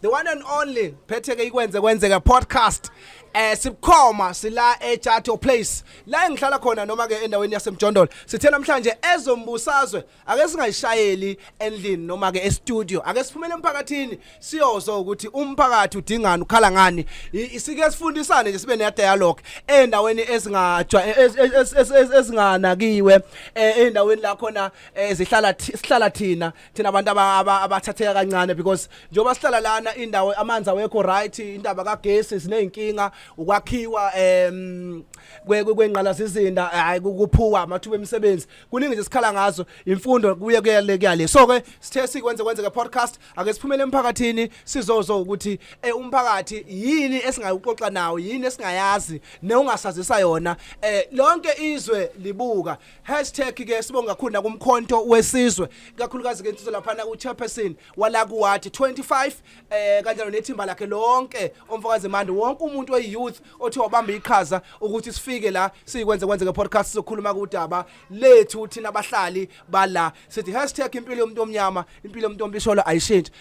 the one and only phetheke ikwenze kwenzeka podcast eh sibukhoma sila eChato Place la engihlala khona noma ke endaweni yaseMjondolo sithe namhlanje ezombusazwe ake singayishayeli endlini noma ke e-studio ake siphumele emphakathini siyozwa ukuthi umphakathi udingani ukhala ngani I- sike sifundisane nje sibe ne dialogue endaweni ezingajwa e- ez- ez- ez- ez- ezinganakiwe eh, endaweni la khona eh, zihlala thi- sihlala thina thina abantu aba- aba- abathatheka kancane because njengoba sihlala lana indawo amanzi awekho right indaba kagesi siney'nkinga ukwakhiwa um kwengqalazizinda hhayi ku- kuphuka amathuba emisebenzi kuningi nje sikhala ngazo imfundo kuye kuyale kuyale so-ke sithe sikwenze kwenzeke podcast ake siphumele emphakathini sizozwa ukuthi um umphakathi yini esingayuxoxa nawo yini esingayazi newungasazisa yona um lonke izwe libuka Hashtag ke sibonga kakhulu nakumkhonto wesizwe kakhulukazi ke insizwa laphana uchairperson wala kuwathi 25 eh kanjalo nethimba lakhe lonke omfokazi manje wonke umuntu oyiyouth othi wabamba iqhaza ukuthi sifike la sikwenze kwenze ke podcast sokhuluma kudaba lethu thina abahlali bala sithi hashtag impilo yomuntu omnyama impilo yomuntu ombisholo ayishintshe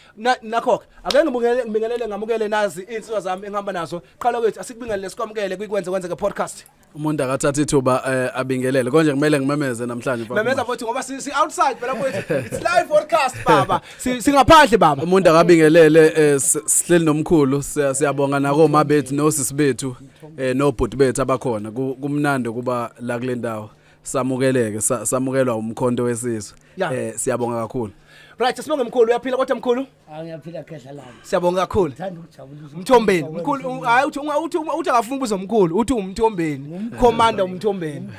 nakho ke ake ngibingelele ngibingelele ngamukele nazi insizwa zami engihamba nazo qala kwethu asikubingelele sikwamukele kwikwenze kwenze ke podcast umuntu akathatha ithuba eh, abingelele konje kumele ngimemeze namhlanje mfana memeza Mashi. futhi ngoba si, si outside phela mfowethu it's live broadcast baba Si- singaphandle baba umuntu akabingelele eh, s- sihleli nomkhulu siya- siyabonga nakoma bethu nosisi bethu eh, nobhuti bethu abakhona Ku- kumnandi ukuba la kule ndawo samukeleke sa- samukelwa umkhonto wesizwe Ya. eh, siyabonga kakhulu right sibonge mkhulu uyaphila kodwa mkhulu Ah, ngiyaphila khehla lami siyabonga kakhulu thanda ukujabulisa mthombeni mkhulu u- hayi uthi unga- uthi unga- uthi akafuna ubuza mkhulu uthi umthombeni commander umthombeni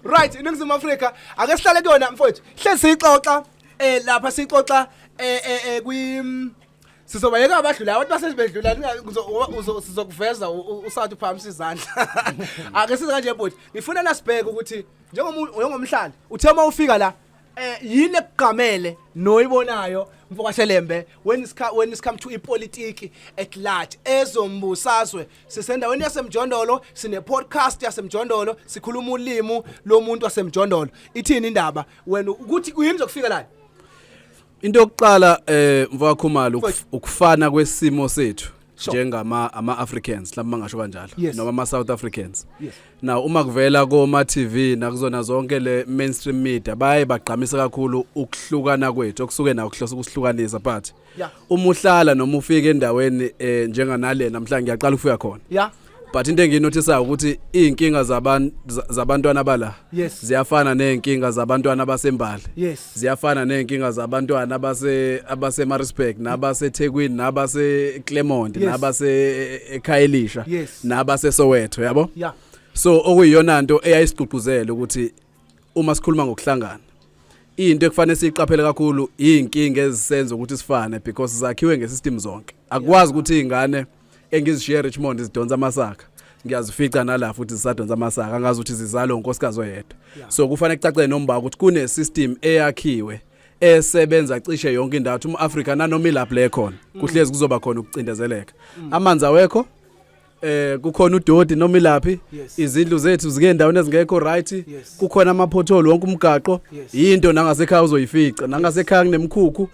right iningizimu afrika ake sihlale kuyona mfowethu hlezi siyixoxa eh lapha siyixoxa eh eh eh kwi mm, sizobayeka abadlula abantu basesibedlula ninga- uzo- uwa- uzo- sizokuveza u- u- usathi uphakamisa izandla ake size kanje bhuti ngifuna nasibheke ukuthi njengomu- njengomhlali uthe uma ufika la eh yini ekugqamele noyibonayo mfokashelembe when is when is come to ipolitiki at large ezombusazwe sisendaweni yasemjondolo sine podcast yasemjondolo sikhuluma ulimi lomuntu wasemjondolo ithini indaba wena ukuthi uyini zokufika la into yokuqala eh mfakakhumalo ukufana kwesimo sethu njengama ama Africans mhlawumbe mangasho kanjalo Yes. noma ama South Africans Yes. now uma kuvela koma TV nakuzona zonke le mainstream media baye bagqamisa kakhulu ukuhlukana kwethu okusuke na ukuhlosa ukuhlukanisa but Yeah. uma uhlala noma ufika endaweni eh, njenganalena mhlawumbe ngiyaqala ukufika khona ya but into enginothisayo ukuthi izinkinga zabantu zabantwana bala yes. ziyafana nezinkinga zabantwana basembali yes. ziyafana nezinkinga zabantwana abase abase Maritzburg nabase Thekwini nabase Clermont yes. nabase eKhayelisha e, e, yes. nabase Soweto yabo yeah. so okuyiyona nto eyayisigqugquzela ukuthi uma sikhuluma ngokuhlangana into ekufanele siyiqaphele kakhulu izinkinga ezisenza ukuthi sifane because zakhiwe ngesystem zonke akwazi ukuthi izingane yeah. engizishiye Richmond zidonsa amasaka ngiyazifica nala futhi zisadonsa amasaka angazi ukuthi zizalo unkosikazi oyedwa so kufanele kucace nomba ukuthi kune system eyakhiwe esebenza cishe yonke indawo uma Africa nanoma ilapho le khona mm. kuhlezi kuzoba khona ukucindezeleka mm. amanzi awekho eh kukhona udodi noma ilaphi izindlu zethu zike endaweni ezingekho right kukhona ama pothole wonke umgaqo into nangasekhaya uzoyifica nangasekhaya kunemikhukhu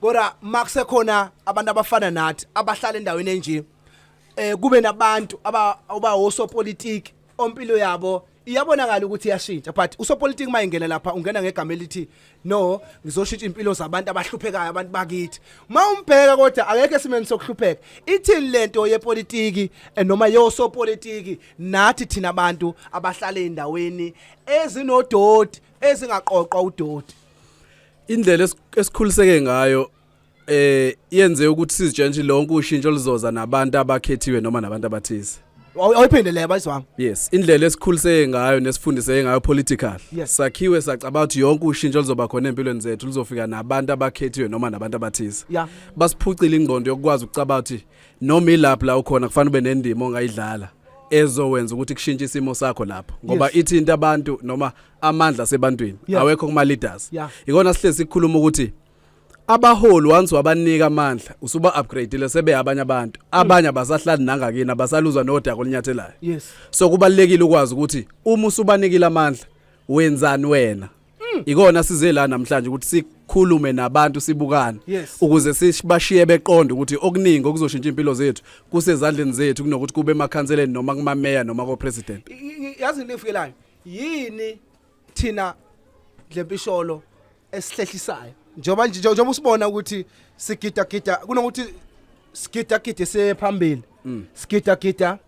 kodwa makusekhona abantu abafana nathi abahlala endaweni enje eh kube nabantu aba uba osopolitiki ompilo yabo iyabonakala ukuthi iyashintsha but usopolitiki mayengena lapha ungena ngegama elithi no ngizoshintsha impilo zabantu abahluphekayo abantu bakithi uma umbheka kodwa akekho esimeni sokuhlupheka ithini lento yepolitiki eh, noma yosopolitiki nathi thina abantu abahlale endaweni ezinodoti ezingaqoqwa udoti indlela esikhuliseke ngayo eh yenze ukuthi sizitshentshe lonke ushintsho lizoza nabantu abakhethiwe noma nabantu abathize awuyiphinde le bayiswami yes indlela esikhuliseke ngayo nesifundiseke ngayo political yes. sakhiwe sacabanga ukuthi yonke ushintsho lizoba khona empilweni zethu lizofika nabantu abakhethiwe noma nabantu abathize yeah. basiphucile ingqondo yokukwazi ukucabanga ukuthi noma ilapho la ukhona kufanele ube nendima ongayidlala ezowenza ukuthi kushintshe isimo sakho lapho ngoba yes. ithinta abantu noma amandla sebantwini yeah. awekho kuma leaders yeah. ikona sihlezi sikhuluma ukuthi abaholi once wabanika amandla usuba upgrade le sebe abanye abantu mm. abanye abasahlali nangakini abasaluzwa nodaka olinyathelayo yes so kubalekile ukwazi ukuthi uma usubanikile amandla wenzani wena mm. ikona size la namhlanje ukuthi sikhulume nabantu sibukane yes. ukuze sibashiye beqonde ukuthi okuningi okuzoshintsha impilo zethu kusezandleni zethu kunokuthi kube emakhanseleni noma kumameya noma ko president yazi lefuyelayo yini thina dlempisholo esihlehlisayo njengoba nje njengoba usibona ukuthi sigida gida kunokuthi sigida gida sephambili mm. sigida gida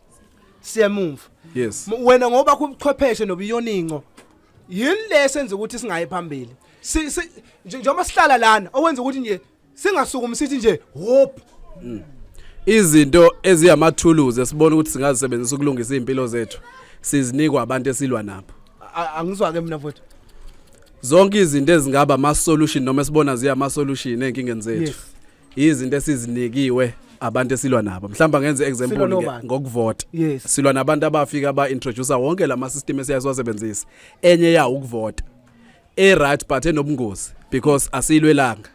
siyemumva yes wena ngoba kubuchwepheshe nobuyoninco yini lesenza ukuthi singayi phambili njengoba sihlala lana owenza ukuthi nje singasukumi sithi nje hop mm. izinto eziyamathuluzi esibona ukuthi singazisebenzisa ukulungisa izimpilo zethu sizinikwa abantu esilwa nabo angizwa ke mina mfowethu zonke izinto ezingaba ama solution noma esibona ziya ama solution enkingeni zethu izinto esizinikiwe abantu esilwa nabo mhlawumbe ngenze example ngokuvota yes. silwa nabantu abafika ba introduce wonke lama system esiyazwasebenzisa enye yawo ukuvota e right but enobungozi because asilwelanga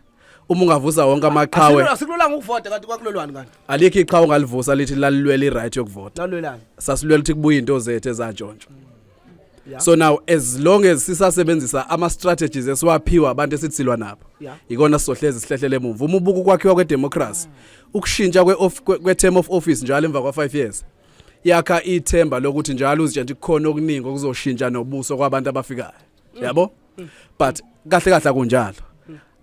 uma ungavusa wonke amaqhawe asikulolanga ukuvota kanti kwakulolwani kanti alikho iqhawe ongalivusa lithi lalilwela i-right yokuvota lalwelani sasilwela ukuthi kubuye into zethu ezantshontsho Yeah. so now as long as sisasebenzisa ama strategies esiwaphiwa abantu esithilwa nabo Yeah. ikona sizohlezi sihlehlele emuva uma ubuka ukwakhiwa kwe democracy ukushintsha kwe of- kwe kwe term of office njalo emva kwa 5 years yakha ithemba lokuthi njalo uzitshentsha kukhona okuningi okuzoshintsha nobuso kwabantu abafikayo yabo but kahle kahle akunjalo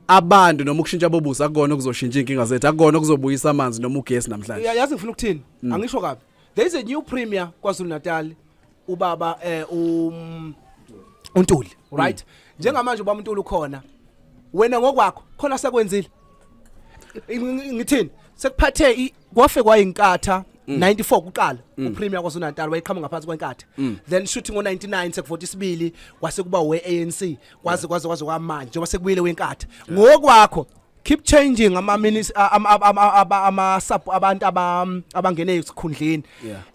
abantu noma ukushintsha bobusa akukona okuzoshintsha inkinga zethu akukona okuzobuyisa amanzi noma ugesi namhlanje Ya- yazi ngifuna ukuthini Mm. angisho kabi there is a new premier kwazulu natal ubaba eh um untuli Mm. right njengamanje ubaba untuli ukhona wena ngokwakho khona sekwenzile Ngi- ngi- ngithini sekuphathe i- kwafe kwayinkatha 94 mm. kuqala mm. upremier kwaZulu-Natal wayeqhamuka ngaphansi kwenkatha mm. then shooting ngo-99 sekuvota isibili kwase kuba we-anc kwaze kwaze kwaze kwamanje njengoba sekubuyile wenkatha ngokwakho keep changing ama minutes ama sub abantu abangene esikhundleni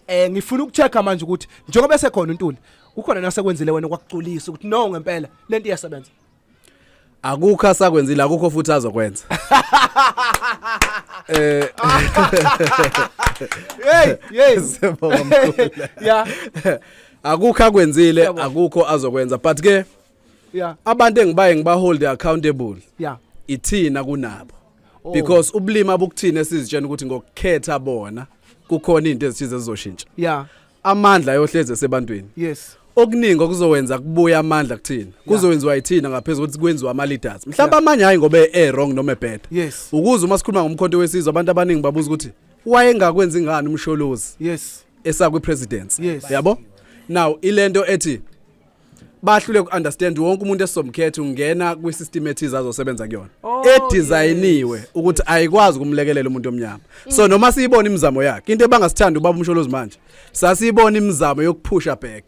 eh ngifuna ukuchecka manje ukuthi njengoba esekhona uNtuli ukhona nasekwenzile wena kwakuculisa ukuthi no ngempela lento iyasebenza akukho asakwenzile akukho futhi azokwenza eh hey yes yeah akukho akwenzile akukho azokwenza but ke yeah abantu engibaye ngibahold accountable yeah ithina kunabo oh. because ubulima bukuthina sizitshena ukuthi ngokukhetha bona kukhona into ezithize ezizoshintsha yeah amandla ayohlezi esebantwini yes okuningi okuzowenza kubuya amandla kuthina kuzowenziwa yithina ngaphezulu ukuthi kwenziwa ama leaders mhlawumbe amanye hayi ngoba e wrong noma ebad yes ukuze uma sikhuluma ngomkhonto wesizwe abantu abaningi babuza ukuthi wayengakwenzi ngani umsholozi yes esakwi presidency yes. yabo now ilento ethi bahlule ku understand wonke umuntu esizomkhetha ungena kwi system ethiza azosebenza kuyona oh, edesignyiwe yes. ukuthi ayikwazi kumlekelela umuntu omnyama mm. so noma siyibona imizamo yakhe into ebangasithanda ubaba umsholozi manje sasiyibona imizamo yokuphusha back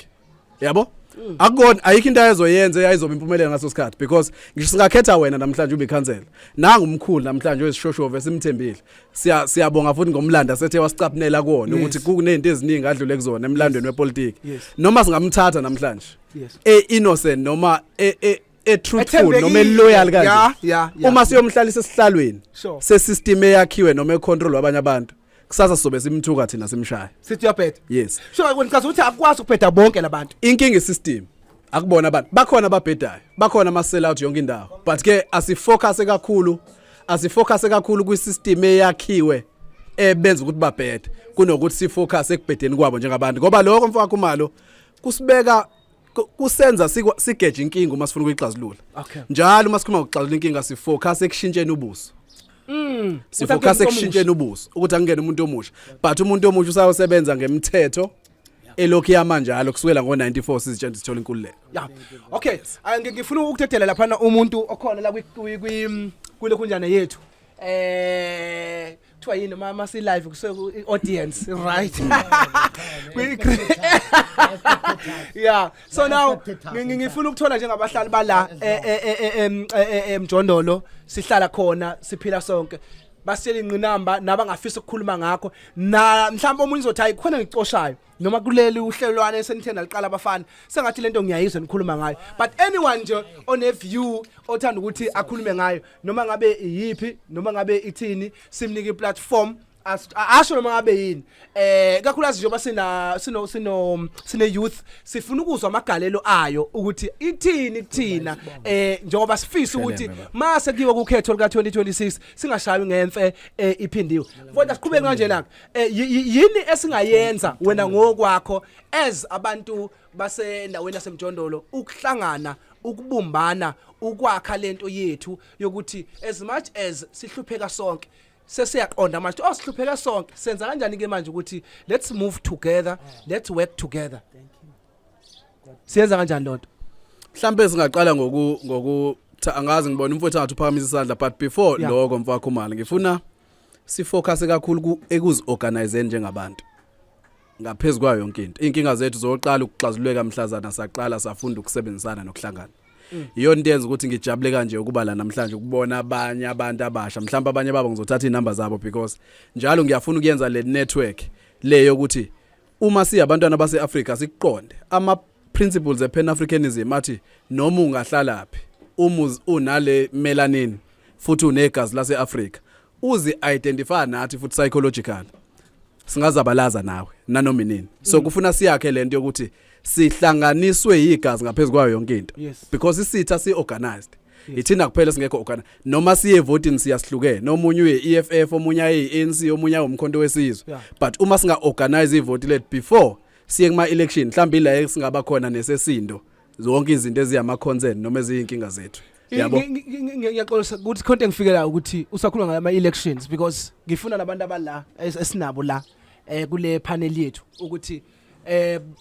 yabo mm. akukona ayikho into ayezoyenza eyayizoba impumelelo ngaso sikhathi because ngisho singakhetha wena namhlanje ube ikhansela nangu umkhulu namhlanje oyisishoshovu esimthembile siya siyabonga futhi ngomlando asethe wasicapnela kuona Yes. ukuthi kunezinto eziningi adlule kuzona emlandweni wepolitiki Yes. noma singamthatha namhlanje Yes. e innocent noma e e e truthful Ethembekile. noma loyal kanje Yeah, yeah, yeah. uma siyomhlalisa esihlalweni Sure. se system eyakhiwe noma e control abanye abantu kusasa sobe simthuka thina simshaya sithi uyabheda yes so ngicabanga ukuthi akwazi ukubheda bonke labantu inkinga isystem akubona abantu bakhona ababhedayo bakhona ama sell out yonke indawo but ke asifocus kakhulu asifocus kakhulu kwi system eyakhiwe ebenza ukuthi babhede kunokuthi sifocus ekubhedeni kwabo njengabantu ngoba lokho mfowakho umalo kusibeka kusenza sigeje inkinga uma sifuna ukuyixazulula njalo uma sikhuluma ngokuxazulula inkinga sifocus ekushintsheni ubuso Mm. Sifocus ekushintsheni ubuso ukuthi akungene umuntu omusha. But umuntu omusha usayosebenza ngemthetho elokhu yama njalo kusukela ngo-94 sizitshela ukuthi sithola inkululeko ya okay ah, ngifuna ukuthetela laphana umuntu okhona la mm, kule kunjana yethu eh kuthiwa yini uma uma si-live kuse-audience right yeah so now ngifuna ukuthola njengabahlali bala emjondolo sihlala khona siphila sonke basitshela ingqinamba nabangafisa ukukhuluma ngakho na mhlawumbe omunye uzothi hayi khona ngicoshayo noma kuleli uhlelwane esenitheni naliqala abafana sengathi lento ngiyayizwa nikhuluma ngayo but anyone nje one view othanda ukuthi akhulume ngayo noma ngabe iyiphi noma ngabe ithini simnike iplatform asho noma ngabe yini eh kakhulukazi njengoba sina sino sino sine youth sifuna ukuzwa amagalelo ayo ukuthi ithini kuthina eh njengoba sifisa ukuthi mase kuyiwa kukhetho lika 2026 singashayi ngemfe eh, iphindiwe kodwa siqhubeke kanje la eh, yi- yi- yini esingayenza wena ngokwakho as abantu basendaweni yasemjondolo ukuhlangana ukubumbana ukwakha lento yethu yokuthi as much as sihlupheka sonke sesiyaqonda manje oh sihlupheke sonke senza kanjani ke manje ukuthi let's move together let's work together siyenza kanjani lonto mhlambe singaqala ngoku ngoku angazi ngibona umfowethu angathi uphakamisa isandla but before yeah. lokho mfakho mali ngifuna sifocus kakhulu ekuziorganize njengabantu ngaphezu kwayo yonke into inkinga zethu zoqala ukuxazululeka mhlazana saqala safunda ukusebenzisana nokuhlangana iyona into yenza ukuthi ngijabule kanje ukuba la namhlanje ukubona abanye abantu abasha mhlawumbe abanye babo ngizothatha inamba zabo because njalo ngiyafuna ukuyenza le network leyo ukuthi uma siyabantwana baseAfrika sikuqonde ama principles ePan Africanism athi noma ungahlalaphi umuz unale melanin futhi unegazi laseAfrika uzi identify nathi futhi psychological singazabalaza nawe nanoma inini so kufuna siyakhe lento yokuthi sihlanganiswe yigazi ngaphezulu kwayo yonke into Yes. because isitha si organized ithina kuphela singekho ogana noma siye voting siyahlukene nomunye uye EFF omunye ayi ANC omunye awumkhonto wesizwe Yeah. but uma singa organize ivote let before siye kuma election mhlawumbe la singaba khona nesesindo zonke izinto eziyama concern noma eziyinkinga zethu Yabo. Ngi- ngi- ngi- ngi- ngiyaxolisa ukuthi khonto engifikela ukuthi usakhuluma ngala ma-elections because ngifuna nabantu abala es- esinabo la um kule panel yethu ukuthi um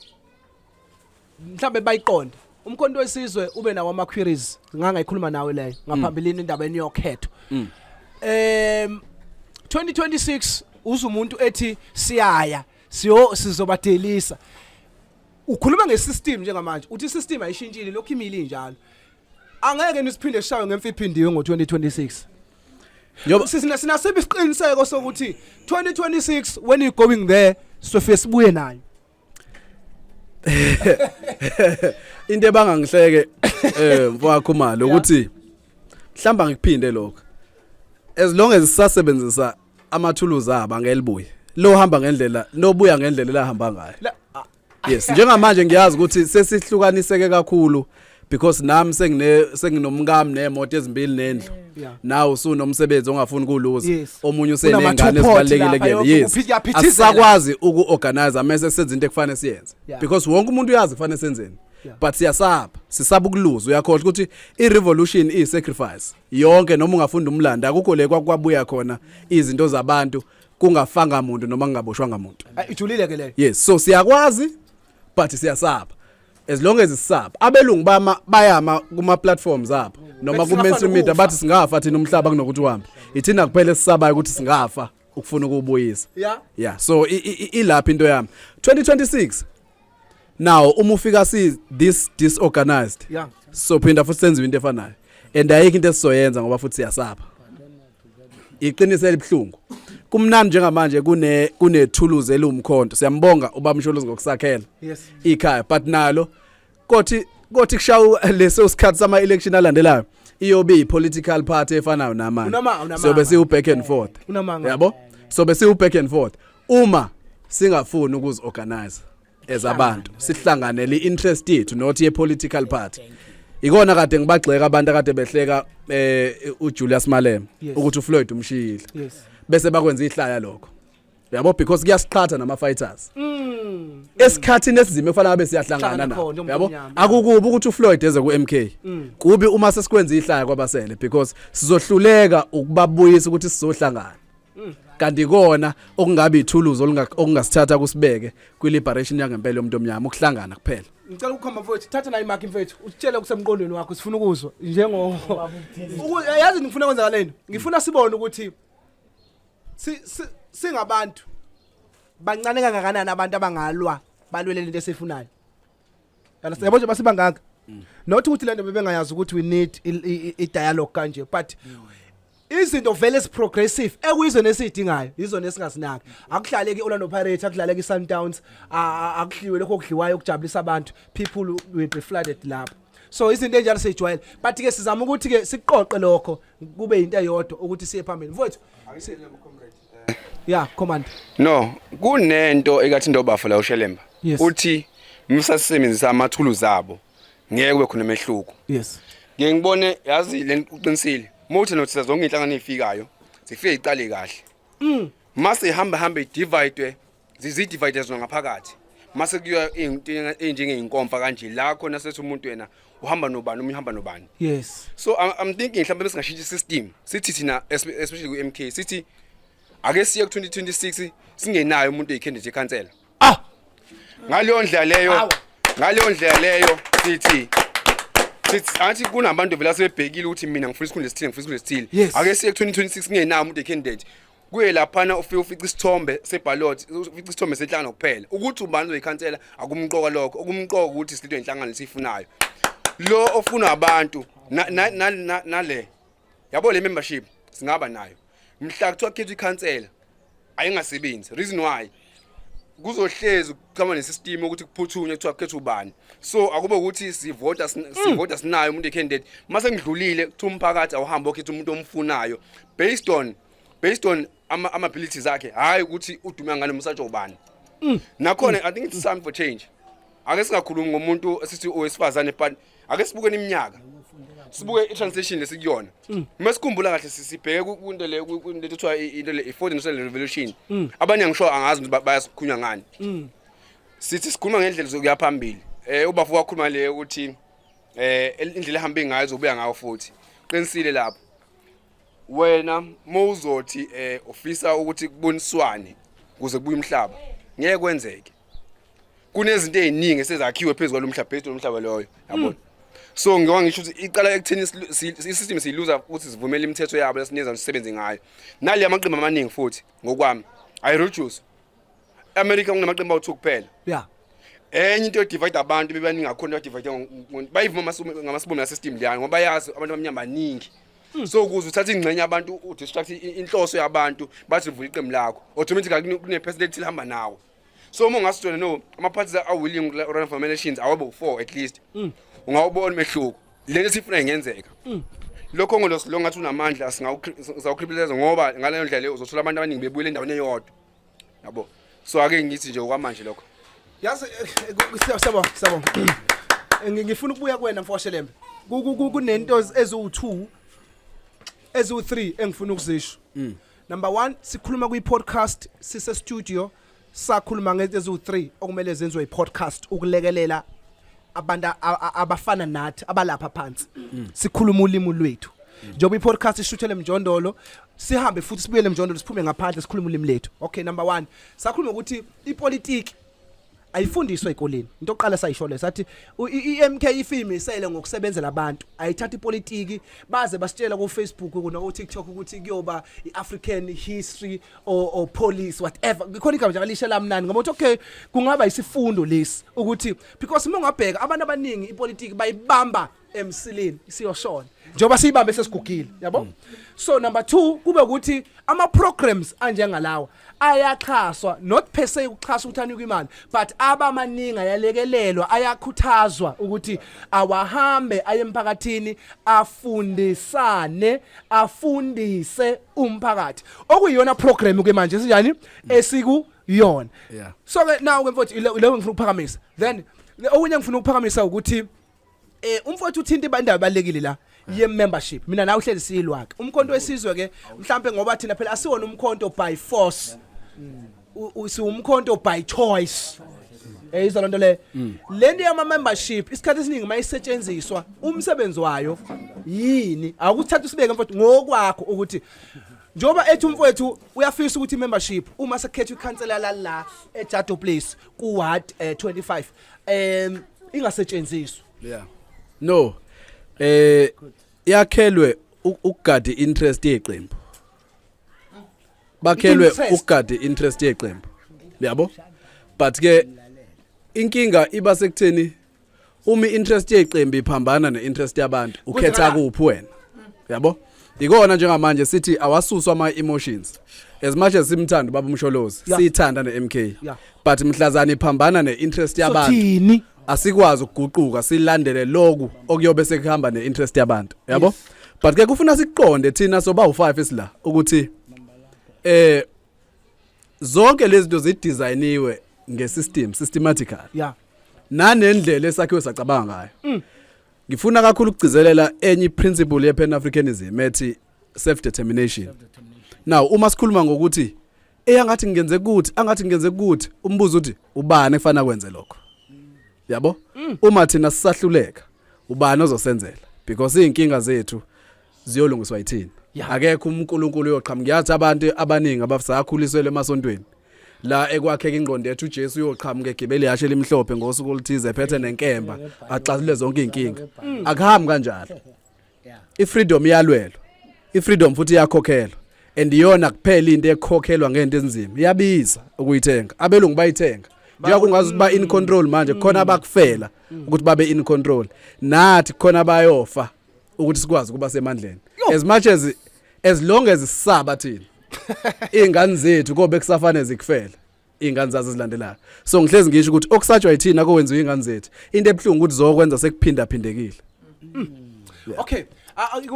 mhlawumbe bayiqonde umkhonto wesizwe ube nawo ama-queries ngangayikhuluma nawe leyo ngaphambilini indaba yenu yokhetho um 2026 uze umuntu ethi siyaya siyo sizobadelisa ukhuluma ngesystem njengamanje uthi isystem ayishintshile lokhu imile injalo angeke nisiphinde sishawe ngemfiphindiwe ngo-2026 Njoba- Sisina- sinasiphi isiqiniseko sokuthi 2026 when you going there sofike sibuye nayo into ebangangihleke eh mfowakho mali ukuthi mhlamba ngikuphinde lokho as long as sisasebenzisa amathuluzi aba ngelibuye lo hamba ngendlela nobuya ngendlela elahamba ngayo La- a- yes njengamanje ngiyazi ukuthi sesihlukaniseke kakhulu because nami sengine senginomkami nemoto ezimbili nendlu nawe usunomsebenzi ongafuni kuluza omunye usenengane ezibalekile kuyena yes asakwazi ukuorganize mase senza into ekufanele siyenze because wonke umuntu uyazi kufanele senzeni but siyasaba sisaba ukuluza uyakhohlwa ukuthi i-revolution iyi-sacrifice yonke noma ungafunda umlando akukho le kwakubuya khona izinto zabantu kungafanga muntu noma kungaboshwanga muntu Ay, ijulile ke leyo yes so siyakwazi but siyasaba as long as sisaba abelungu bama bayama kuma platforms abo noma Bathi ku singafana mainstream media ukufa. bathi singafa thina umhlaba kunokuthi uhambe ithina kuphela esisabayo ukuthi singafa ukufuna ukubuyisa ya yeah so i- i- i- ilapha into yami 2026 now uma ufika si this disorganized ya sophinda futhi senziwe into efanayo and ayikho into esizoyenza ngoba futhi siyasaba iqiniso elibuhlungu kumnandi njengamanje kune kunethuluzi eliwumkhonto siyambonga ubamsholozi ngokusakhela yes ikhaya but nalo kothi kothi kushawu leso sikhathi sama election alandelayo iyobe i political party efanayo namanje sobe siwu back and forth yabo sobe siwu back and forth uma singafuni ukuzi organize as abantu sihlanganele interest yethu not ye political party ikona kade ngibagxeka abantu akade behleka eh uJulius Malema ukuthi uFloyd umshiyile bese bakwenza ihlaya lokho yabo because kuyasiqhatha nama fighters mm. esikhathini esizime kufanele abe siyahlangana na yabo akukubi ukuthi uFloyd eze ku MK mm. kubi uma sesikwenza ihlaya kwabasele because sizohluleka ukubabuyisa ukuthi sizohlangana kanti kona okungabe ithuluzi okungasithatha kusibeke kwi-liberation yangempela yomuntu omnyama ukuhlangana kuphela ngicela ukukhomba mfowethu thatha nayo imakhi mfowethu usitshele okusemqondweni wakho sifuna ukuzwa njengo yazi ngifuna kwenzeka lento ngifuna sibone ukuthi singabantu bancane kangakanani abantu abangalwa balwele lento esifunayo yala siyabo nje basibangaka mm. not ukuthi lento bebengayazi ukuthi we need i dialogue kanje but mm. izinto vele esiprogressive ekuyizona esidingayo yizona esingasinaki akuhlale ke Orlando Pirates akuhlale ke Sundowns akuhliwe lokho okudliwayo okujabulisa abantu people will be flooded lapho so izinto enjalo sejwayele but ke sizama ukuthi ke siqoqe lokho kube into eyodwa ukuthi siye phambili mfowethu Yeah, command. No, kunento ekathi ndobafo la ushelemba. Yes. Uthi msasebenzisa amathulu zabo ngeke kube khona mehluko. Yes. Ngeke ngibone yazi le uqinisile. Muthi nothi sezonke inhlangano efikayo zifike iqale kahle. Mm. Mase ihamba hamba idivide zizi-dividers nangaphakathi mase kuyiwa into enjengeyinkomfa kanje la khona sethi umuntu yena uhamba nobani uma uhamba nobani yes so I'm, I'm thinking mhlawumbe besingashintsha system sithi thina especially ku MK sithi ake siye ku 2026 singenayo umuntu oyikhendeti ekhansela ah ngaleyo ndlela leyo ngaleyo ndlela leyo sithi sithi athi kunabantu vela sebebhekile ukuthi mina ngifuna isikhundla esithile ngifuna isikhundla esithile ake siye ku 2026 singenayo umuntu oyikhendeti kuye laphana ufike ufica isithombe seballot ufica isithombe senhlangano kuphela ukuthi ubani uzoyikhansela akumqoka lokho okumqoka ukuthi silidwe inhlangano lesifunayo lo ofunwa abantu nale yabo le membership singaba nayo mhla kuthiwa khethwa ikhansela ayingasebenzi reason why kuzohlezi kuchama nesystem ukuthi kuphuthunywe kuthiwa kukhetha ubani so akube ukuthi sivota mm. sivota sinayo umuntu ecandidate mase ngidlulile kuthiwa umphakathi awuhambe okhetha umuntu omfunayo based on based on ama ama abilities akhe hayi ukuthi udume ngane umsatsho ubani mm. nakhona i think it's time for change ake singakhulumi ngomuntu esithi owesifazane but ake sibuke iminyaka sibuke i-transition lesikuyona mm. uma sikhumbula kahle sibheke kwinto le kwinto ethiwa into le i-fourth industrial revolution mm. abanye ngisho angazi ukuthi bayasikhulunywa ngani mm. sithi sikhuluma ngendlela zokuya phambili eh ubafo wakhuluma le ukuthi eh indlela ehamba ngayo zobuya ngayo futhi qinisile lapho wena mawuzothi eh ufisa ukuthi kuboniswane kuze kubuye umhlaba ngeke kwenzeke kunezinto eziningi esezakhiwe phezulu kwalomhlaba phezulu lomhlaba loyo yabona hmm. so ngiwa ngisho ukuthi iqala ekuthini isystem siyiluza ukuthi sivumele imithetho yabo lesineza sisebenze ngayo nali amaqembu amaningi futhi ngokwami i reduce America kunamaqembu awu2 kuphela yeah enye into edivide abantu bebaningi akhona badivide bayivuma ngamasibomu nasesystem liyana ngoba bayazi abantu abamnyama baningi hmm. so ukuze uthathe ingxenye abantu udistract inhloso yabantu bathi vula iqembu lakho automatically kune-person elithile hamba nawo so uma ungasijona no ama-parties are-willing run for elections awabo u-four at least hmm. ungawubona umehluko lento sifuna ingenzeka mm. lokho ngolosi lo ngathi unamandla singawukribileza ngoba ngaleyo ndlela leyo uzothola abantu abaningi bebuyela endaweni eyodwa yabo so ake ngithi nje okwamanje lokho yazi eh, eh, siyabonga siyabonga eh, ngifuna ukubuya kuwena mfoshelembe kunento eziwu-two eziwu-three engifuna ukuzisho mm. number one sikhuluma kwi-podcast sisestudio sakhuluma ngezinto eziwu-3 okumele zenziwe i-podcast ukulekelela abantu a- a- abafana nathi abalapha phansi sikhuluma ulimi lwethu njengoba i-podcast ishuthele emjondolo sihambe futhi sibuyele emjondolo siphume ngaphandle sikhulume ulimi lethu okay number one sakhuluma ukuthi ipolitiki ayifundiswa ekoleni into oqala sayisho le sathi u- i- i-MK ifilm isele ngokusebenzela abantu ayithatha ipolitiki baze basitshela ku-Facebook kuno ku-TikTok ukuthi kuyoba i-African history or, or police whatever khona igama nje alishe lamnani ngoba uthi okay kungaba isifundo lesi ukuthi because uma ungabheka abantu abaningi ipolitiki bayibamba emsileni siyoshona njengoba siyibambe sesigugile yabo mm. so number 2 kube ukuthi ama programs anjengalawa ayaxhaswa not per se ukuxhasa ukuthi anikwe imali but abamaningi ayalekelelwa ayakhuthazwa ukuthi awahambe aye emphakathini afundisane afundise umphakathi okuyiyona program ke manje sinjani esiku yona yeah. so ke nawo ke mfowethu leyo ngifuna ukuphakamisa then okunye ngifuna ukuphakamisa ukuthi eh umfowethu uthinta ibandaba balekile la ye membership mina nawe uhleli silwa ke umkhonto wesizwe ke mhlambe ngoba thina phela asiwona umkhonto by force mm. siwumkhonto by choice eyizwa lento le lento yama membership isikhathi esiningi mayisetshenziswa umsebenzi wayo yini awukuthatha usibeke mfowethu ngokwakho ukuthi njengoba ethi umfowethu uyafisa ukuthi membership uma sekhetha ikhansela lala eJado Place ku ward eh, 25 em ingasetshenziswa yeah no eh yakhelwe ukugada interest yeqembu bakhelwe ukugade interest yeqembu yabo but ke inkinga iba sekutheni uma interest yeqembu iphambana neinterest yabantu ukhetha kuphi wena yabo ikona njengamanje sithi awasuswa ama emotions as much as simthanda baba umsholozi siyithanda ne MK but mhlazana iphambana ne interest yabantu asikwazi ukuguquka silandele lokhu okuyobe sekuhamba neinterest yabantu yabo but ke kufuna siqonde thina soba u5 isila ukuthi eh zonke lezi zinto zidesigniwe ngesystem systematical yeah nanendlela esakhiwe sacabanga ngayo mm. ngifuna kakhulu ukugcizelela enye principle ye pan africanism ethi self determination now uma sikhuluma ngokuthi eyi angathi ngenze kuthi angathi ngenze kuthi umbuzo uthi ubani efana kwenze lokho yabo mm. uma thina sisahluleka ubani ozosenzela because izinkinga zethu ziyolungiswa yithina yeah. akekho uNkulunkulu uyoqhamuka ngiyathi abantu abaningi abasakhuliselwe emasontweni la ekwakheka ingqondo yethu uJesu uyoqhamuka egibele yashe elimhlophe ngosuku oluthize ephethe nenkemba axazile zonke izinkinga akuhambi kanjalo ifreedom iyalwelwa ifreedom futhi iyakhokhelwa and iyona kuphela into ekhokhelwa ngento enzima iyabiza ukuyithenga abelungu bayithenga njengoba kungazi ukuthi ba in control manje khona abakufela ukuthi babe in control nathi khona bayofa ukuthi sikwazi ukuba semandleni as much as as long as sisaba thina ingane zethu kobe kusafane zikufela ingane zazo zilandelayo so ngihlezi ngisho ukuthi okusatshwa yithina kowenziwa ingane zethu into ebuhlungu ukuthi zokwenza sekuphinda phindekile mm. okay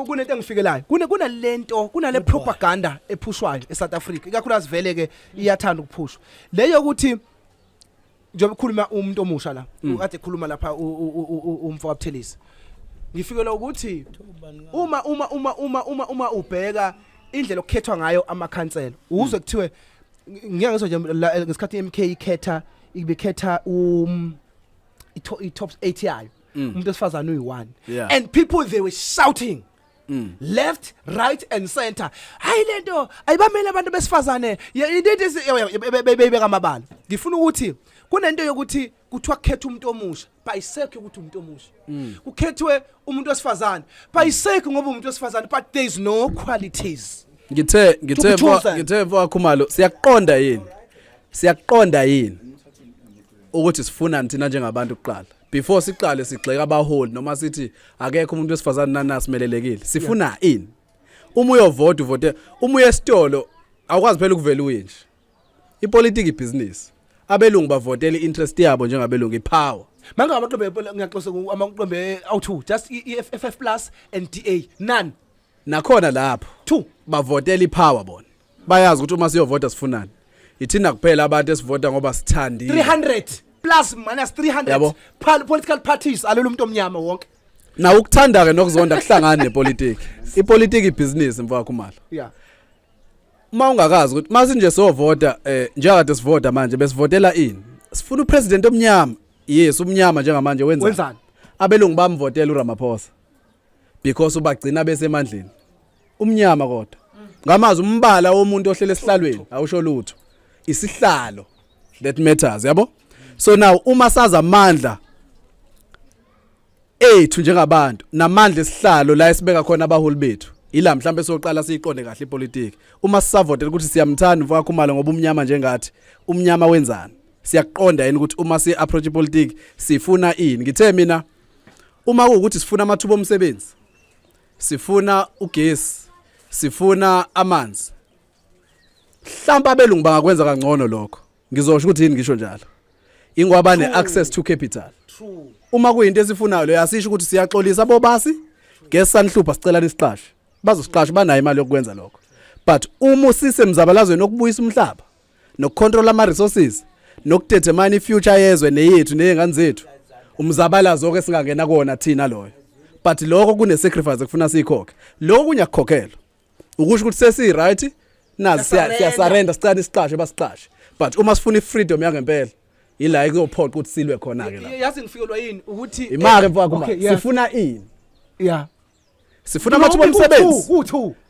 kunento engifikelayo kune kunalento kunale propaganda ephushwayo eSouth Africa ikakhulukazi vele ke iyathanda ukuphushwa leyo ukuthi njengoba ukhuluma umuntu omusha la mm. kade ekhuluma lapha umfo kaButhelisi ngifikelwa ukuthi uma uma uma uma uma uma ubheka indlela okukhethwa ngayo amakhansela uzwe kuthiwe ngiya ngisho nje ngesikhathi MK ikhetha ibekhetha um i top 8 yayo mm. umuntu esifazana uyi1 and people they were shouting Mm. left right and center hayi lento ayibamele abantu besifazane into beyibeka amabala ngifuna ukuthi kunento yokuthi kuthiwa kukhetha umuntu omusha bayisekho ukuthi umuntu omusha mm. kukhethwe umuntu wesifazane bayisekho ngoba umuntu wesifazane but there is no qualities ngithe ngithe ngithe wakhumalo siyakuqonda yini siyakuqonda yini ukuthi sifuna nithina njengabantu kuqala before siqale sigxeka abaholi noma sithi akekho umuntu wesifazane nana simelelekile sifuna ini uma uyovota uvote uma uye esitolo awukwazi phela ukuvela uye nje Ipolitiki ibhizinisi. Abelungu bavotela i-interest yabo njengabelungu ipower. Manga amaqembu epol- ngiyaxosa ku- amaqembu e- awu-2 just i- i- FF plus and DA none Nakhona lapho two bavotela ipower bona. Bayazi ukuthi uma siyovota sifunani. Yithina kuphela abantu esivota ngoba sithandile. 300 plus minus 300 Yabo. Pal- political parties alolu muntu omnyama wonke Na ukuthanda ke nokuzonda kuhlangana nepolitiki. Ipolitiki ibhizinisi mfowakho mala. yeah uma ungakazi ukuthi masinje sovota eh njengakade sivota manje besivotela ini sifuna upresident omnyama yes umnyama njengamanje wenzani wenzani abelungu bamvotela uRamaphosa because ubagcina besemandleni umnyama kodwa ngamazwi umbala womuntu ohlele esihlalweni awusho lutho isihlalo that matters yabo so now uma saza amandla ethu njengabantu namandla esihlalo la esibeka khona abaholi bethu ila mhlawumbe soqala siyiqonde kahle ipolitiki uma sisavotela ukuthi siyamthanda mfoka Khumalo ngoba umnyama njengathi umnyama wenzani siyakuqonda yini ukuthi uma si approach ipolitiki sifuna ini ngithe mina uma ukuthi sifuna amathuba omsebenzi sifuna ugesi sifuna amanzi hlamba abelungu bangakwenza kangcono lokho ngizosho ukuthi yini ngisho njalo ingoba ne access to capital uma kuyinto esifunayo leyo asisho ukuthi siyaxolisa bobasi guess sanihlupha sicela nisiqashe bazosiqasha banayo imali yokwenza lokho but uma usise mzabalazweni okubuyisa umhlaba nokucontrol ama resources nokudetermine ifuture yezwe neyethu nezingane zethu umzabalazo ke singangena kona thina loyo but lokho kune sacrifice ekufuna siyikhokhe lokho kunyakukhokhela ukusho ukuthi sesi right nazi siyasarenda sicane isiqashe basiqashe but uma sifuna ifreedom yangempela ila ikuyophoqa ukuthi silwe khona ke la yazi ngifikelwa yini ukuthi imake mfaka uma sifuna ini yeah sifuna amathuba omsebenzi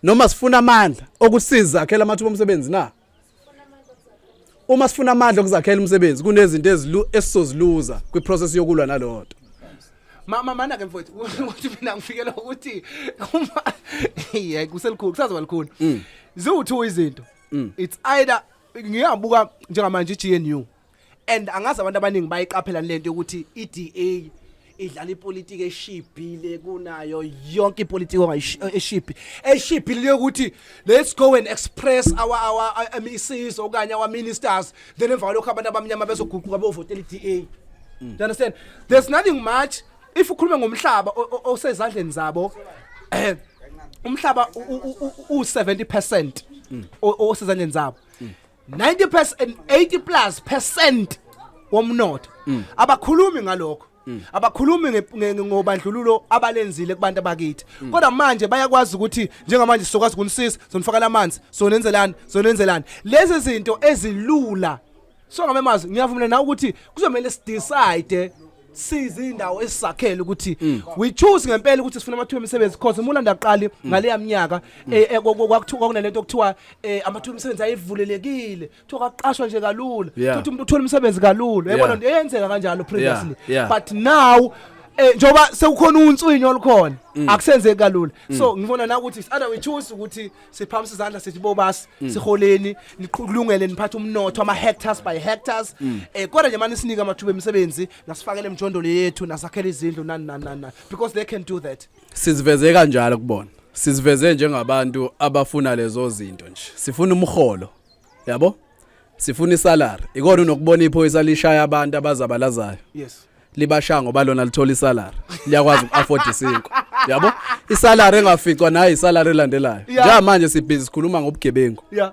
noma sifuna amandla okusiza akhela amathuba omsebenzi na uma sifuna amandla okuzakhela umsebenzi kunezinto ezilu esizoziluza kwiprocess yokulwa nalonto mama mana ke mfowethu ukuthi mina ngifikela ukuthi uma hey kuselikhulu kusazoba likhulu mm. ziwu2 izinto mm. it's either ngiyabuka njengamanje iGNU and angazi abantu abaningi bayiqaphela lento yokuthi iDA idlala ipolitiki eshibhile kunayo yonke ipolitiki ongayishibhi eshibhile yokuthi let's go and express our our MECs okanye our ministers then emva kwalokho abantu abamnyama bezoguquka bovotela iDA mm. you understand there's nothing much if ukhuluma ngomhlaba osezandleni zabo eh, umhlaba u 70% mm. osezandleni zabo mm. 90 percent 80 plus percent womnotho mm. abakhulumi ngalokho mm. abakhulumi ngobandlululo abalenzile kubantu abakithi mm. kodwa manje bayakwazi ukuthi njengamanje sizokwazi ukunisisa sonifakela amanzi sonenzelani sonenzelani lezi zinto ezilula so ngamemazwi ngiyavumelana nawe ukuthi kuzomele sidecide size indawo esisakhele ukuthi mm. we choose ngempela ukuthi sifuna amathuba emisebenzi because umulanda aqali mm. ngaleya minyaka mm. eh, eh, kwakuthiwa kwakunalento okuthiwa eh, amathuba emisebenzi ayevulelekile kuthiwa kwaqashwa nje kalula ukuthi umuntu uthola umsebenzi kalula yabona nto eyenzeka kanjalo previously but now eh njoba sekukhona unswinyo olukhona mm. akusenzeki kalula mm. so ngibona na ukuthi it's either we choose ukuthi siphamisa izandla sithi bobasi mm. siholeni niqulungele niphathe umnotho ama hectares by hectares mm. eh kodwa nje manje sinike amathuba emisebenzi nasifakele emjondolo yethu nasakhele izindlu nani nani nani because they can do that siziveze kanjalo kubona siziveze njengabantu abafuna lezo zinto nje sifuna umholo yabo sifuna isalary ikona unokubona iphoyisa lishaya abantu abazabalazayo yes libashaya ngoba lona lithola isalary liyakwazi uku-afford isinkwa yabo isalary engaficwa nayo isalary elandelayo Yeah. njengamanje sibhizi sikhuluma ngobugebengu ya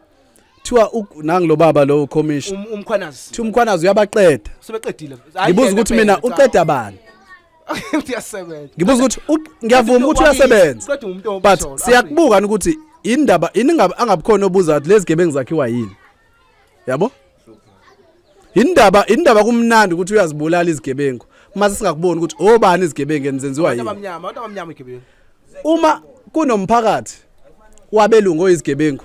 kuthiwa u- nangu lo baba lo commission um- umkhwanazi kuthiwa umkhwanazi uyabaqeda sebeqedile Hayi ngibuza yena ukuthi mina phela, cha. uqeda bani uyasebenza ngibuza ukuthi u- ngiyavuma ukuthi uyasebenza Qeda umuntu but omsolo. siyakubuka ni ukuthi indaba yini ngabe angabukhona obuza ukuthi lezi gebengu zakhiwa yini yabo indaba indaba kumnandi ukuthi uyazibulala izigebengu mase singakuboni ukuthi obani izigebengu enizenziwa Abantu yini abamnyama abantu abamnyama igebengu uma kunomphakathi wabelungu oyizigebengu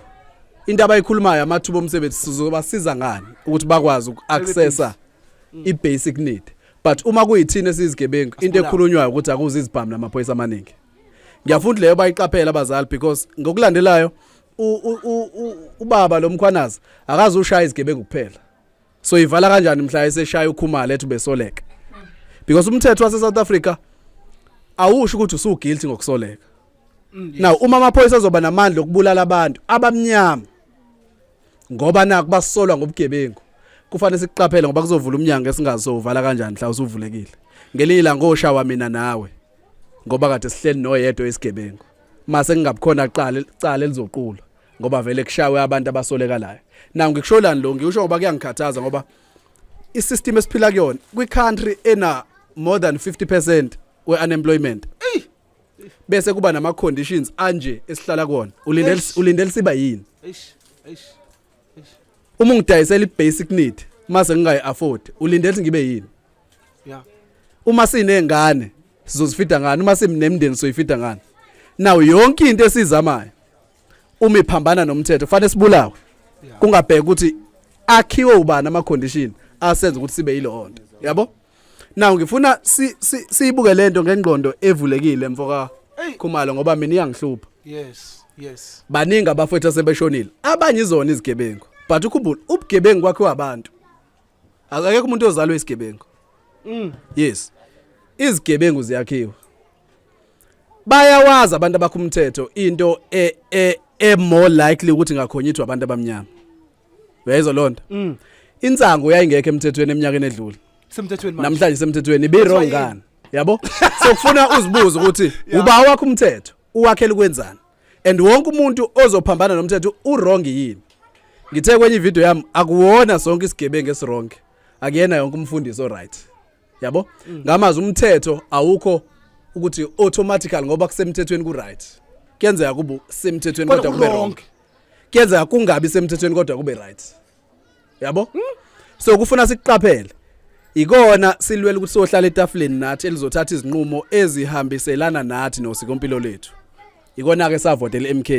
into abayikhulumayo amathuba omsebenzi sizobasiza ngani ukuthi bakwazi uku-accessa mm. i basic need but uma kuyithina sizigebengu into ekhulunywayo ukuthi akuzi izibhamu namaphoyisa amaningi ngiyafunda leyo bayiqaphela abazali because ngokulandelayo ubaba lomkhwanazi akazi ushaya izigebengu kuphela so ivala kanjani mhla eseshaya ukhumala ethi ubesoleka because umthetho wase South Africa awusho ukuthi usu guilty ngokusoleka mm, now uma amaphoyisa azoba namandla okubulala abantu abamnyama ngoba naku basolwa ngobugebengu kufanele siqaphele ngoba kuzovula umnyango esingazo uvala kanjani mhla usuvulekile ngelinye ilanga oshawa mina nawe ngoba kade sihleli noyedwa isigebengu mase kungabukhona qala icala elizoqulwa ngoba vele kushawe abantu abasolekalayo nawu ngikusholani lo ngikusho ngoba kuyangikhathaza ngoba isystem esiphila kuyona kwi country ena more than 50% we unemployment bese kuba nama conditions anje esihlala kona ulindele ulindele siba yini eish eish uma ngidayisela ibasic need mase ngingayi afford ulindele ukuthi ngibe yini yeah uma sinengane sizozifida ngani uma simnemndeni soyifida ngani nawo yonke into esizamayo uma iphambana nomthetho kufanele sibulawe kungabheka ukuthi akhiwe ubani ama condition asenza ukuthi sibe yilonto yabo Now ngifuna si- si- siyibuke lento ngengqondo evulekile mfoka Ey. Khumalo ngoba mina iyangihlupha. yes yes Baningi abafowethu asebeshonile. Abanye izona izigebengu. But ukhumbula ubugebengu kwakhe wabantu. Akekho umuntu ozalwe isigebengu. Mm. Yes. Izigebengu ziyakhiwa. Bayawazi abantu abakho umthetho into e e e more likely ukuthi ngakhonyithwa abantu abamnyama. uyayizwa loo nto mm. insangu yayingekho emthethweni eminyakeni edlule semthethweni manje namhlanje semthethweni ibe wrong ngani yabo sokufuna uzibuze ukuthi uba wakho umthetho uwakhela ukwenzani and wonke umuntu ozophambana nomthetho uwrong yini ngithe kwenye ivideo yami akuwona sonke isigebengu esironke akuyena yonke umfundisi oright yabo mm. ngamazi umthetho awukho ukuthi automatically ngoba kusemthethweni ku right kuyenzeka kubu semthethweni kodwa kube wrong kuyenzeka kungabi semthethweni kodwa kube right yabo hmm? so kufuna sikuqaphele ikona silwela ukuthi sohlala etafuleni nathi elizothatha izinqumo ezihambiselana nathi nosikompilo lethu ikona ke savotela MK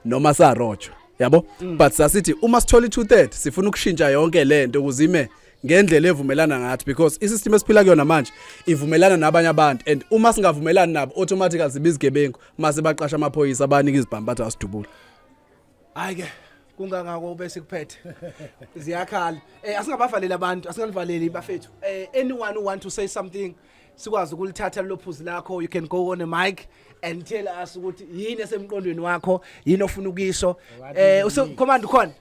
noma sarojwa yabo hmm. but sasithi uma sithola i230 sifuna ukushintsha yonke lento kuzime ngendlela evumelana ngathi because isystem esiphila kuyona manje ivumelana nabanye abantu and uma singavumelani nabo automatically siba izigebengu mase baqasha amaphoyisa abanika izibhamu bathi asidubula hayi ke kungangako ube sikuphethe ziyakhala eh asingabavaleli abantu asingalivaleli bafethu eh anyone who want to say something sikwazi ukulithatha lophuzi lakho you can go on a mic and tell us ukuthi yini esemqondweni wakho yini ofuna ukuyisho eh usekhomanda khona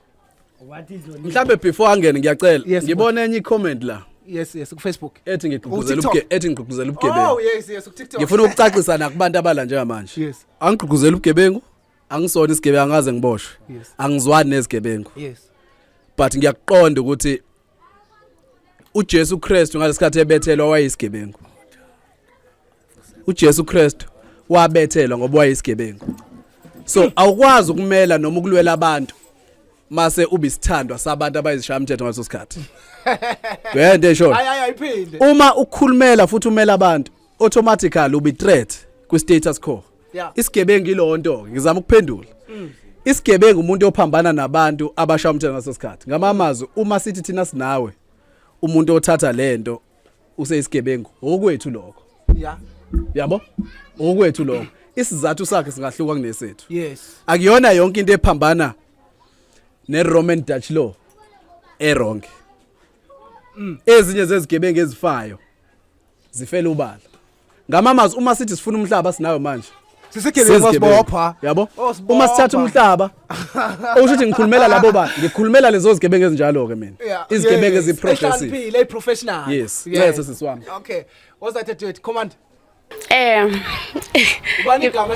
mhlambe before angene ngiyacela Yes, ngibona enye i-comment la yes yes kufacebook ethi ngigqugquzela Ku-TikTok. ubuge- ethi ngigqugquzela ubugebengu oh yes yes kutiktok ngifuna ukucacisa nakubantu abala njengamanje Yes. angigqugquzeli ubugebengu angisona isigebengu angaze ngiboshwe Yes. angizwani nezigebengu yes but ngiyakuqonda ukuthi uJesu Kristu ngalesikhathi ebethelwa wayisigebengu uJesu Kristu wabethelwa ngoba wayisigebengu so awukwazi ukumela noma ukulwela abantu mase ubisithandwa sabantu abayizishaya umthetho ngaleso sikhathi uyayento eshoyo uma ukhulumela futhi umela abantu automatically ubi threat kwi status quo isigebengu ilonto ngizama ukuphendula mm. isigebengu umuntu ophambana nabantu abasha umthetho ngaso sikhathi ngamamazwi uma sithi thina sinawe umuntu othatha lento useyisigebengu okwethu lokho ya yabo okwethu lokho isizathu sakhe singahluka kunesethu yes akuyona yonke into ephambana ne Roman Dutch law erong mm. ezinye zezigebengu ezifayo zifele ubala ngamamazi uma sithi sifuna umhlaba sinayo manje sisegebengu wasibopha yabo oh, uma sithatha umhlaba okusho ukuthi ngikhulumela labo ba ngikhulumela lezo zigebengu ezinjalo ke mina izigebengu eziprofessional le professional yes yes sisiwami okay was that a command Eh. Ubani igama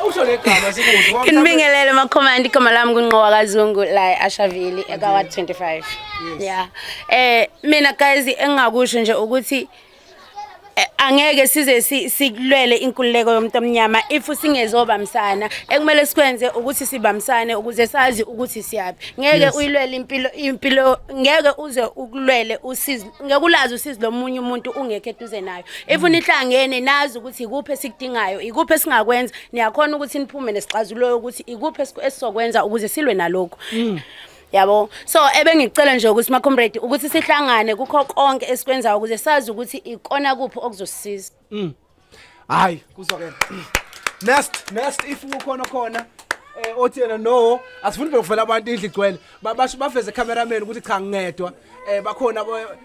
usho negama sikuzo. Nginibingelele makhomandi igama lami kunqowa kaZungu la eAshaville eka 25. Yeah. Eh mina guys engingakusho nje ukuthi eh, angeke size sikulwele inkululeko yomuntu omnyama if singezobamsana ekumele sikwenze ukuthi sibamsane ukuze sazi ukuthi siyaphi ngeke uyilwele impilo impilo ngeke uze ukulwele usizi ngeke ulazi usizi lomunye umuntu ungekho eduze nayo if mm. nihlangene nazi ukuthi ikuphi esikudingayo ikuphi esingakwenza niyakhona ukuthi niphume nesixazulo ukuthi ikuphi esizokwenza ukuze silwe nalokho mm. yabo so ebengicela nje ukuthi macomrade ukuthi sihlangane kukho konke esikwenzayo ukuze sazi ukuthi ikona kuphi okuzosisiza mm. hayi kuzokela next next if ukhona khona eh othi yena no asifuni nje kuvela abantu indlu igcwele Ba- basho baveze cameraman ukuthi cha ngedwa eh bakhona abo-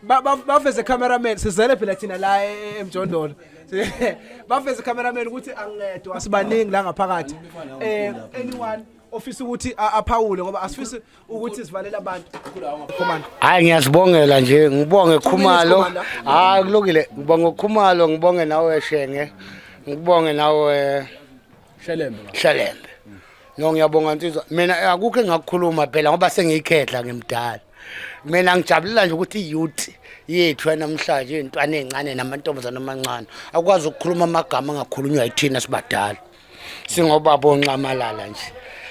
ba- ba- baveze cameraman sizele phela thina la e- e- emjondolo baveze cameraman ukuthi angedwa sibaningi la ngaphakathi eh anyone ofisa ukuthi a- aphawule ngoba asifisi ukuthi sivalele abantu Commander. hayi ngiyazibongela nje ngibonge khumalo Commander. hayi kulukile ngibonge ukhumalo ngibonge nawe shenge ngibonge nawe Shelembe. shelembe no ngiyabonga nsizwa mina akukho engakukhuluma phela ngoba sengiyikhedla ngimdala mina ngijabulela nje ukuthi i-youth yethu yanamhlanje iy'ntwana ey'ncane namantombazane amancane akwazi ukukhuluma amagama angakhulunywa yithina sibadala singobaba onxamalala nje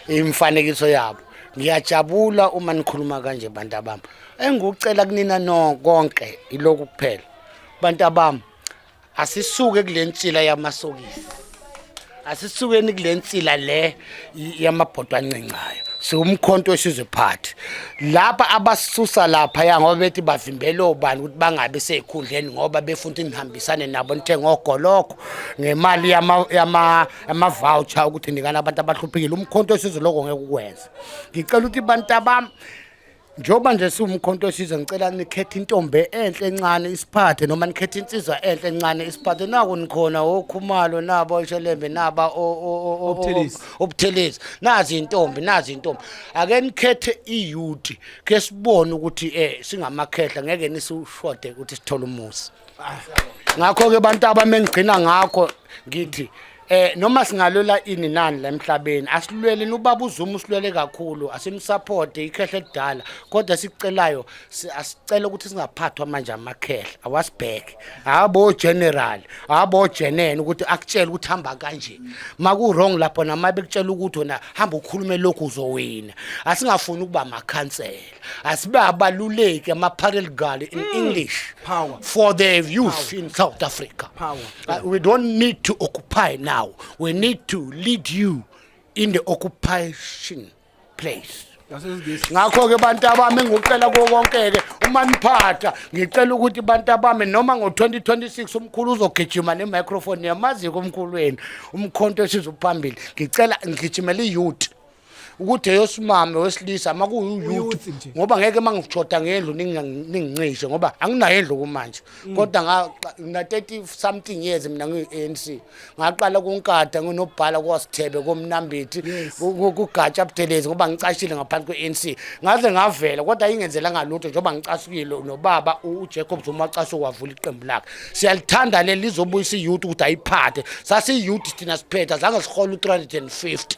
imifanekiso yabo ngiyajabula uma nikhuluma kanje bantu abami engikucela kunina no konke iloku kuphela bantu abami asisuke kule nsila yamasokisi asisukeni kule nsila le yamabhodwa ancincayo siwumkhonto wesizwe phathi lapha abasusa lapha ya ngoba bethi bavimbele obani ukuthi bangabi sezikhundleni ngoba befuna ukuthi nihambisane nabo nithenga ogolokho ngemali yama- yama- yamavoucher ukuthi nikana abantu abahluphekile umkhonto wesizwe lokho ngeke ukwenze ngicela ukuthi bantu abami njengoba nje siwumkhonto wesizwe ngicela nikhethe intombe enhle encane isiphathe noma nikhethe insizwa enhle encane isiphathe naku nikhona okhumalo nabo oshelembe naba o- o- o- o- Obuthelezi. o- obuthelezi nazi intombi nazi intombi ake nikhethe iyuti ke sibone ukuthi eh singamakhehla ngeke nisushode ukuthi sithole umuzi ngakho ke bantu abamengigcina ngakho ngithi eh noma singalwela ini nani la emhlabeni asilweleni ubaba uzuma usilwele kakhulu asimsupporte ikhehle elidala kodwa sicelayo si- asicela ukuthi singaphathwa manje amakhehle awasibheke habo general habo jenene ukuthi akutshele ukuthi hamba kanje maku-wrong lapho namaye bekutshela ukuthi wena hamba ukhulume lokhu uzowina asingafuni ukuba amakhansela asibe abaluleki ama-parel gal in mm. english Power. for the youth Power. in south africa Power. Uh, we don't need to occupy now we need to lead you in the occupation place ngakho-ke bantu abami ngicela kuwo konke-ke uma niphatha ngicela ukuthi bantu abami noma ngo-2026 umkhulu uzogijima nemicrofoni yamaziko omkhulu wenu umkhonto esizophambili ngicela ngigijimela i-youth ukuthi eyosimame wesilisa uma kuyuyouth ngoba ngeke uma ngishoda ngendlu ningincishe ngoba anginayo endlu kumanje mm. kodwa ngina-thirty something years mina ngiyi-n c ngaqala kunkada nginobhala kwasithebe komnambithi kugatsha budelezi ngoba ngicashile ngaphansi kwe-n c ngaze ngavela kodwa ingenzela ngalutho njengoba ngicasukile nobaba ujacob zuma wacashe kwavula iqembu lakhe siyalithanda leli lizobuyisa iyouth ukuthi ayiphathe sasiyouth thina siphetha zange sihola u-three hundred and fifty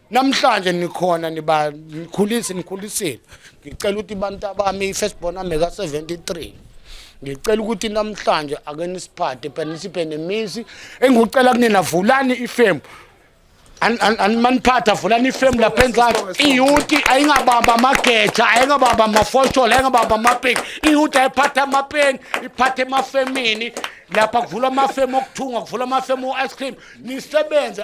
namhlanje nikhona niba nikhulisi nikhulisile ngicela ukuthi abantu abami i-first born ami ka-73 ngicela ukuthi namhlanje ake nisiphathe phela nisiphe nemisi engikucela kunina vulani ifemu maniphatha vulani ifemu lapha enzansi iyuti ayingabamba amageja ayingabamba amafosholo ayingabamba amapeki iyuti ayiphatha amapeni iphathe emafemini lapha kuvula amafemu okuthunga kuvula amafemu o-ice cream nisebenze